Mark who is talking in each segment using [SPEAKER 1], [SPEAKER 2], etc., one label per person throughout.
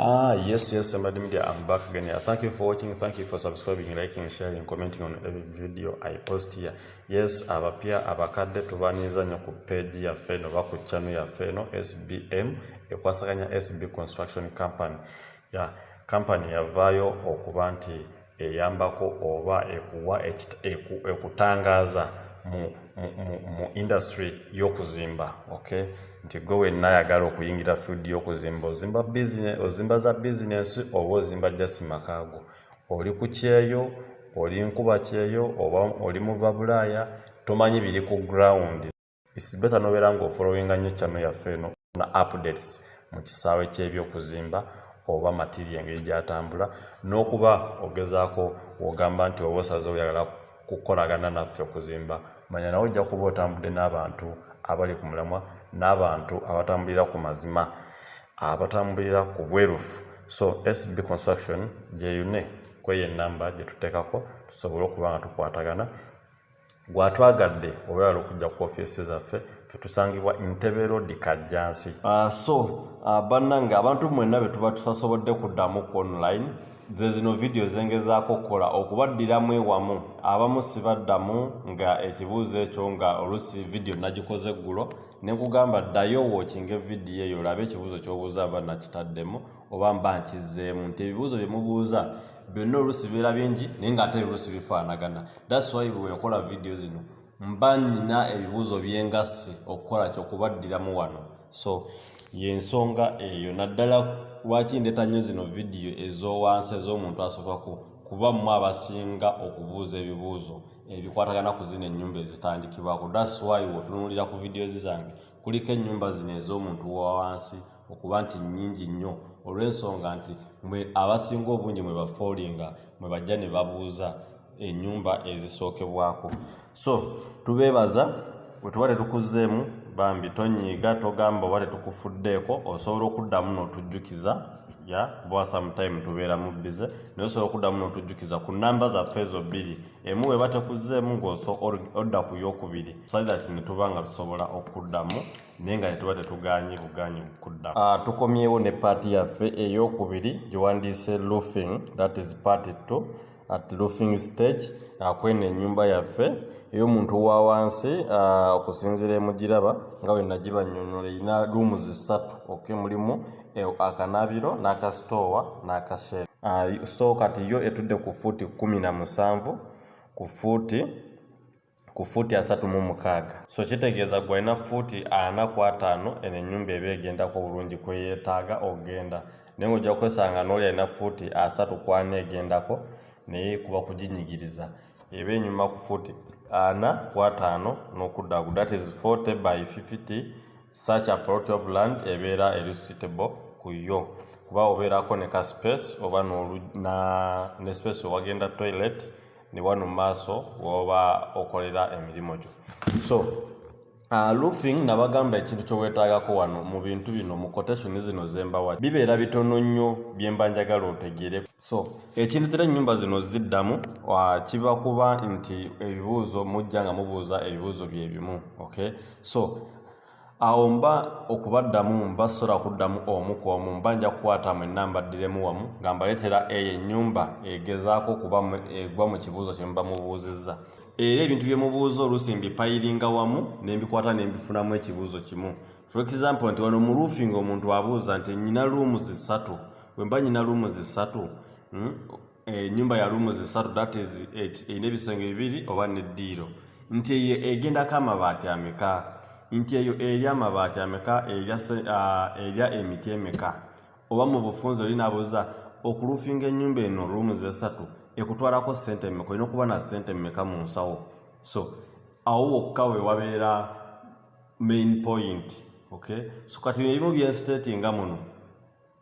[SPEAKER 1] Ah, yes, yes, Somebody Media, I'm back again. Yeah, thank you for watching. Thank you for subscribing, liking, sharing, commenting on every video I post here. Yes, abapya abakadde tubanyiza nnyo ku page yaffe eno oba ku channel yaffe eno SBM ekwasaganya SB Construction Company. Yeah, company yavaayo okuba nti eyambako oba ekuwa ekutangaaza mu industry y'okuzimba ok nti gwe wenna ayagala okuyingira field y'okuzimba ozimba business ozimba za bizinesi oba ozimba jasi makaago oli ku kyeyo oli nkuba kyeyo oba oli muva bulaaya tomanyi biri ku ground It's better nobeera nga ofolowinga nnyo channel yaffe eno na updates mu kisaawe ky'ebyokuzimba oba matiri engeri gyatambula n'okuba ogezaako wogamba nti oba osaze oyagala kukolagana naffe okuzimba manya nawe ojja kuba otambudde n'abantu abali ku mulamwa n'abantu abatambulira ku mazima abatambulira ku bwerufu so sb construction gyeyune kweyo enamba gyetuteekako tusobole okuba nga tukwatagana gwatwagadde owebala okujja ku ofiisi zaffe fe tusangibwa entebe road kajjansi uh, so uh, bannange abantu mwenna be tuba tutasobodde kuddamu ku online ze zino vidiyo zengezaako okukola okubaddiramu ewamu abamu sibaddamu nga ekibuuzo ekyo nga oluusi vidiyo nagikoze eggulo ne nkugamba ddayo wookinga evidiyo eyo olabe ekibuuzo ky'obuuza aba nakitaddemu oba mba nkizzeemu nti ebibuuzo bye mubuuza byonna oluusi bibeera bingi naye ng'ate oluusi bifaanagana thats why bwe nkola vidiyo zino mba nina ebibuuzo byengasse okukola kyo okubaddiramu wano so yensonga eyo naddala lwaki ndeeta nnyo zino vidiyo ez'owansi ez'omuntu asokako kuba mmwe abasinga okubuuza ebibuuzo ebikwatagana ku zino ennyumba ezitandikibwako thats why wotunulira ku vidiyo zi zange kuliko ennyumba zino ez'omuntu wawansi okuba nti nnyingi nnyo olw'ensonga nti mwe abasinga obungi mwe bafoolinga mwe bajja ne babuuza ennyumba ezisookebwako so tubeebaza wetuba tetukuzzeemu bambi tonyiiga togamba oba tetukufuddeeko osobola okuddamu n'otujjukiza ya kuba sometime tubeera mu bize naye osobola okuddamu n'otujjukiza ku namba zaffe ezo bbiri emu weba tekuzzeemu ng'oso odda ku yokubiri so that ne tuba nga tusobola okuddamu naye nga tetuba tetugaanyi bugaanyi kudda ah, tukomyewo ne paati yaffe eyokubiri gyewandiise loofing that is party two at loofing stage ah, kweno enyumba yaffe ey'omuntu wa wansi ah, okusinziira emugiraba nga bwe nagibanyonyola erina luumu zisatu ok mulimu eh, akanabiro n'akasitoowa n'akasheera so kati yo etudde ku fuuti kumi na musanvu ku fuuti ku fuuti asatu mu mukaaga so kitegeeza gwe alina fuuti ana ku ataano eno ennyumba eba egendako obulungi kweyeetaaga okugenda naye ngaojja kwesanga nooli alina fuuti asatu ku ana egendako naye kuba kuginyigiriza eba enyuma ku fuuti ana ku ataano n'okuddaku that is 40 by 50 such a plot of land ebeera eri suitable ku yo kuba obeerako ne ka space oba ne space owagenda toilet ne wano mu maaso woba okolera emirimu gyo so Uh, roofing nabagamba ekintu kyowetagako wano mu bintu bino mu quotation zino zembawa bibeera bitono nnyo byemba njagala otegeere so ekintu tera ennyumba zino ziddamu uh, kiba kuba nti ebibuuzo mujja nga mubuuza ebibuuzo byebimu okay so Awo mba okubaddamu mba ssobola kuddamu omu ku omu, mba nja kukwata mwenna mbaddiremu wamu nga mbaleetera eyo ennyumba egezaako okuba egwa mu kibuuzo kye muba mubuuzizza. Era ebintu bye mubuuza oluusi mbipayiringa wamu ne mbikwata ne mbifunamu ekibuuzo kimu. For example nti wano mu roofing omuntu abuuza nti nnyina luumuzi ssatu? Bwe mba nnyina luumuzi ssatu, hmm, enyumba eh, ya lumu zisatu that is erina eh, ebisenge bibiri oba neddiiro nti eyo egendako amabaati ameka nti eyo erya amabaati ameka erya ah, emiti emeka oba mu bufunzi oli nabuuza okulufinga enyumba eno lumu zesatu ekutwalako sente emeka olina okuba na sente emeka mu nsawo so awo wokka we wabeera main point okay so kati bino ebimu byenstate nga muno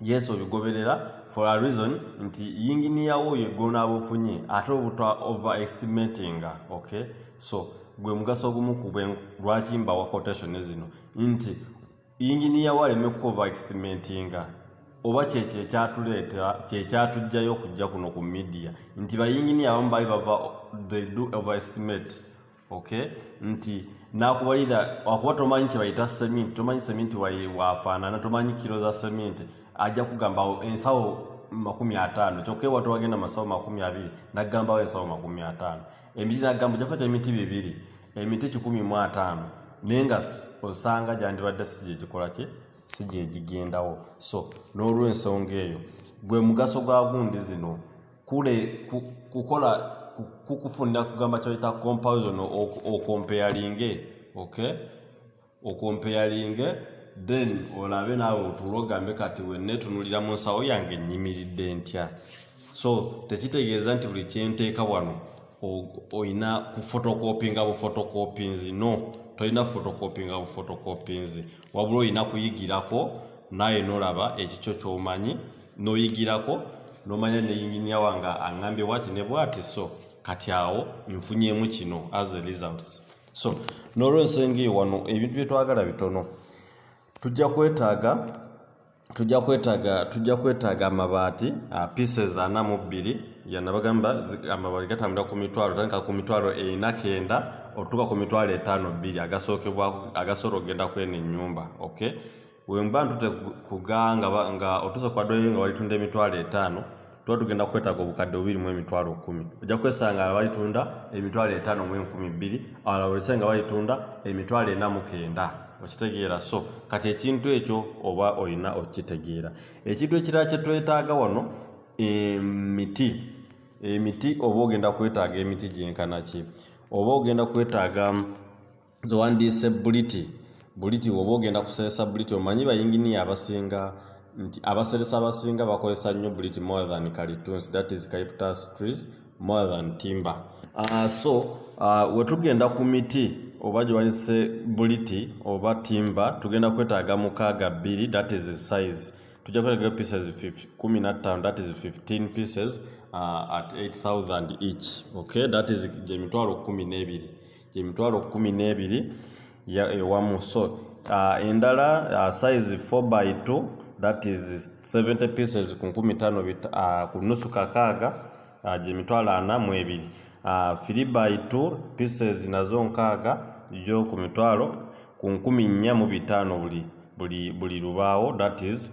[SPEAKER 1] yes obigoberera for a reason nti yinginiya wo oyo eggulu n'aba ofunye ate obuta over estimatinga ok so gwe mugaso ogumu ku lwaki mbawa quotation zino nti yinginiya wo aleme ku over estimatinga oba kyekyo ekyatuleetera kyekyatugjayo okujja kuno ku midiya nti bayinginiya abamu bali bava they do over estimate okay nti nakubalira wakuba tomanyi kyebayita seminti tomanyi seminti wafaanana tomanyi kiro za seminti ajja kugambawo ensawo makumi ataano kyokka ewatu wagenda masawo makumi abiri nagambawo ensawo makumi ataano emiti nagamba ojakwata emiti bibiri emiti kikumi mu ataano naye nga osanga gyandibadde si gyegikola kye si gyegigendawo so n'olwensonga eyo gwe mugaso gwa gundi zino kule kukola kukufunira kugamba kyoyita comparison okompeyalinge okay okompeyalinge then olabe naawe otuula ogambe kati wenetunulira mu nsawo yange nyimiridde ntya so tekitegeeza nti buli kyenteeka wano olina kufotokopinga bufotokopinzi no tolina fotokopinga bufotokopinzi wabula olina kuyigirako naye nolaba ekikyo kyomanyi n'oyigirako n'omanya ne yinginiya wange aŋambye bwati ne bwati so kati awo nfunyemu kino as a results so n'olwensonga eyo wano ebintu bye twagala bitono tujja kwetaaga tujja kwetaaga tujja kwetaaga amabaati uh, pieces ana mu bbiri yanabagamba amabaati gatambula ku mitwalo tandika ku mitwalo ena kenda otutuka ku mitwalo etaano bbiri agasookebwa agasobola okugenda kweno ennyumba okay Wemba ntute kuga nga, nga otuuse ku adweyo nga walitunda emitwalo etaano tuba tugenda kukwetaaga obukadde bubiri mu emitwalo kumi ojja kwesanga nga balitunda emitwalo etaano mu enkumi bbiri awala olese nga balitunda emitwalo ena mu kenda okitegeera so kati ekintu ekyo oba olina okukitegeera ekintu ekirala kye twetaaga wano emiti emiti oba ogenda kwetaaga emiti gyenkanaki oba ogenda kwetaaga nze wandiise buliti buliti woba ogenda kuseresa buliti omanyi bayinginiya abasinga nti abaseresa abasinga bakozesa nnyo buliti more than kalitunsi that is caiptas trees more than timber uh, so uh, wetugenda ku miti oba gyewanise buliti oba timber tugenda kwetaaga mukaaga bbiri that is size tujja kwetaaga pieces 15 that is 15 pieces uh, at 8000 each okay that is gyemitwalo kumi n'ebiri emitwalo kkumi n'ebiri ewamu so uh, endala uh, size 4 by 2 that is 70 pieces ku nkumi tano uh, ku nusu kakaaga uh, gyemitwalo ana mu ebiri uh, 3 by 2 pieces nazo nkaaga gyo ku mitwalo ku nkumi nnya mu bitaano buli buli buli lubaawo that is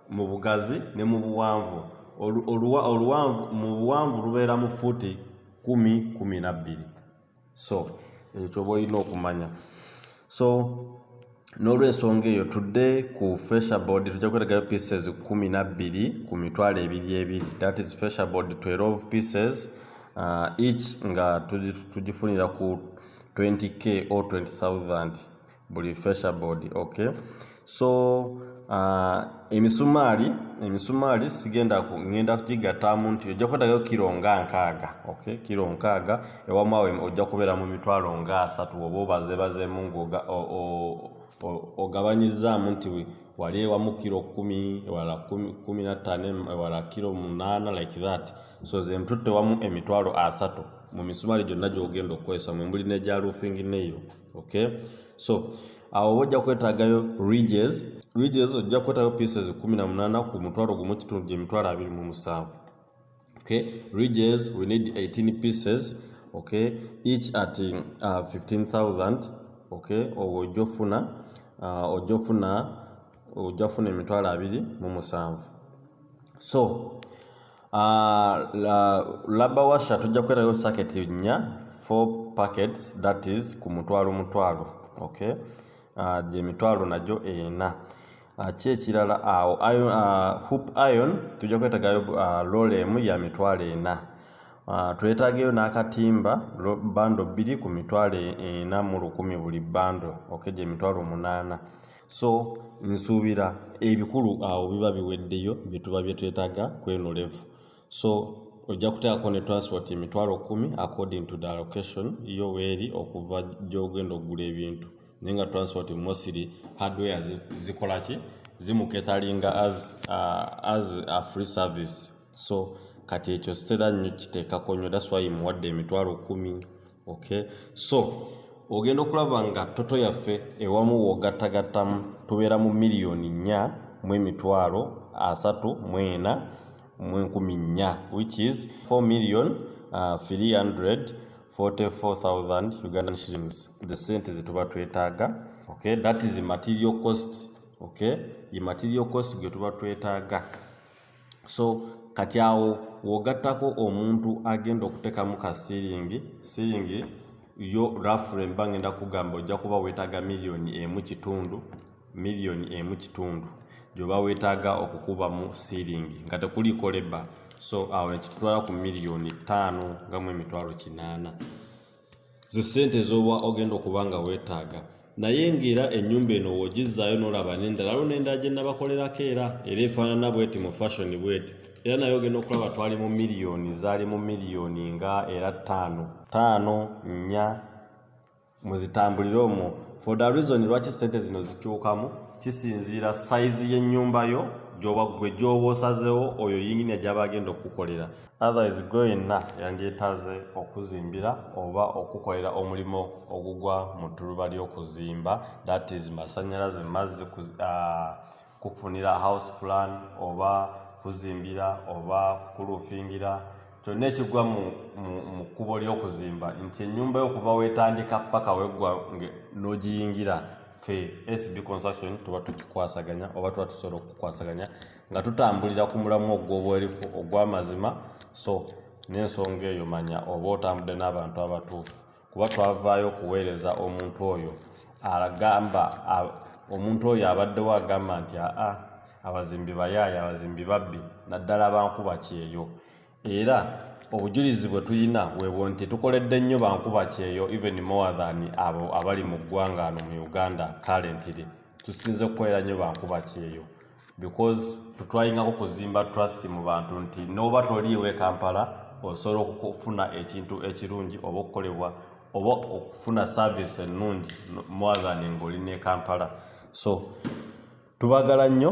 [SPEAKER 1] mu bugazi ne mu buwanvu oluwanvu mu buwanvu lubeera mu fuuti kumi kumi nabbiri so ekyo kyoba olina okumanya so n'olwensonga eyo tudde ku feshabod tujja kwetegayo pieces kumi nabbiri ku mitwalo ebiri ebiri that is feshabod 12 pieces uh, each nga tugifunira ku 20k or 20000 buli fesha board okay so uh, emisumaali emisumaali sigenda ku ngenda kugigattaamu nti ojja kwetagayo kiro nga nkaaga okay kiro nkaaga ewamaawe ojja kubeera mu mitwalo nga asatu oba obazebazeemu ngaoga ogabanyizaamu nti wali ewamu kiro kumi ewala kumi nattaano ewala kiro munaana like that so ze ntutte wamu emitwalo asatu mu misumaali gyonna gyogenda okukozesa mwembuli negya roofing neyo okay so awo oba ojja kwetaagayo ridges ridges ojja kwetaagayo pieces 18 ku mutwalo gumu kitundu gye mitwalo 27 okay ridges we need 18 pieces okay each at uh, 15000 okay owo ojja ofuna uh, ojja ofuna ojja ofuna emitwalo 27 so laba washa tujja kukwerayo saketi nnya four packets that is ku mutwalo mutwalo okay uh, gye mitwalo nagyo ena uh, ki ekirala awo uh, iron, uh, hoop iron tujja kwetagayo uh, lola emu ya mitwalo ena uh, twetageyo n'akatimba bando bbiri ku mitwalo ena mu lukumi buli bando okay gye mitwalo munaana so nsuubira ebikulu awo biba biweddeyo byetuba byetwetaaga kweno levu so ojja kuteekako ne transport emitwalo kumi according to the location yo weeri okuva gyogenda okugula ebintu naye nga transport mosiri hardware zikolaki zimuketalinga as, uh, as a free service so kati ekyo sitera nnyo kiteekako nnyo that's why muwadde emitwalo kumi okay so ogenda okulaba nga toto yaffe ewamu wogattagattamu tubeera mu miliyoni nnya mu emitwalo asatu mu ena mu enkumi nnya which is 4 million uh, 300 44000 ugandan shillings the sente zetuba twetaaga okay that is material cost okay ye material cost gwe tuba twetaaga so kati awo wogattako omuntu agenda okutekamu ka siiringi siiringi yo rafure mba ngenda kugamba ojja kuba weetaaga miliyoni emu kitundu miliyoni emu kitundu gyoba weetaaga okukubamu siiringi nga tekuliiko leba so awo nekitutwala ku miliyoni ttaano nga mu emitwalo kinaana zi sente zoba ogenda okuba nga wetaaga naye ngaera enyumba eno wogizzaayo nolaba nendala lwo nendala gyenabakolerako era era efaanana bweti mu fashion bweti era naye ogenda okulaba twali mu miliyoni zaali mu miliyoni nga era ttaano ttaano nnya muzitambulire omwo for the reason lwaki sente zino zikyukamu kisinziira sayizi y'ennyumba yo gyoba gwe gyoba osazeewo oyo yinginia gyaba agenda okukukolera Otherwise gwe yenna yandyetaaze okuzimbira oba okukolera omulimu ogugwa mu ttuluba ly'okuzimba that is masannyalaze mazzi uh, kukufunira house plan oba kuzimbira oba kulufingira kyonna ekigwa mu kkubo ly'okuzimba nti ennyumba yo okuva weetandika paka weggwa n'ogiyingira fe sb construction tuba tukikwasaganya oba tuba tusobola okukwasaganya nga tutambulira ku mulamu ogw'obwerufu ogw'amazima so n'ensonga eyo manya oba otambudde n'abantu abatuufu kuba twavaayo okuweereza omuntu oyo agamba omuntu oyo abaddewo agamba nti aa abazimbi bayaaye abazimbi babbi naddala bankuba kyeyo era obujulizi bwe tulina webwo nti tukoledde nnyo bankuba kyeyo even more than abo abali mu ggwanga ano mu uganda currently tusinze kukolera nnyo bankuba kyeyo because tutwayingako kuzimba trust mu bantu nti nooba toliiwe kampala osobola okufuna ekintu ekirungi oba okukolebwa oba okufuna service ennungi more than ngaoli ne kampala so tubagala nnyo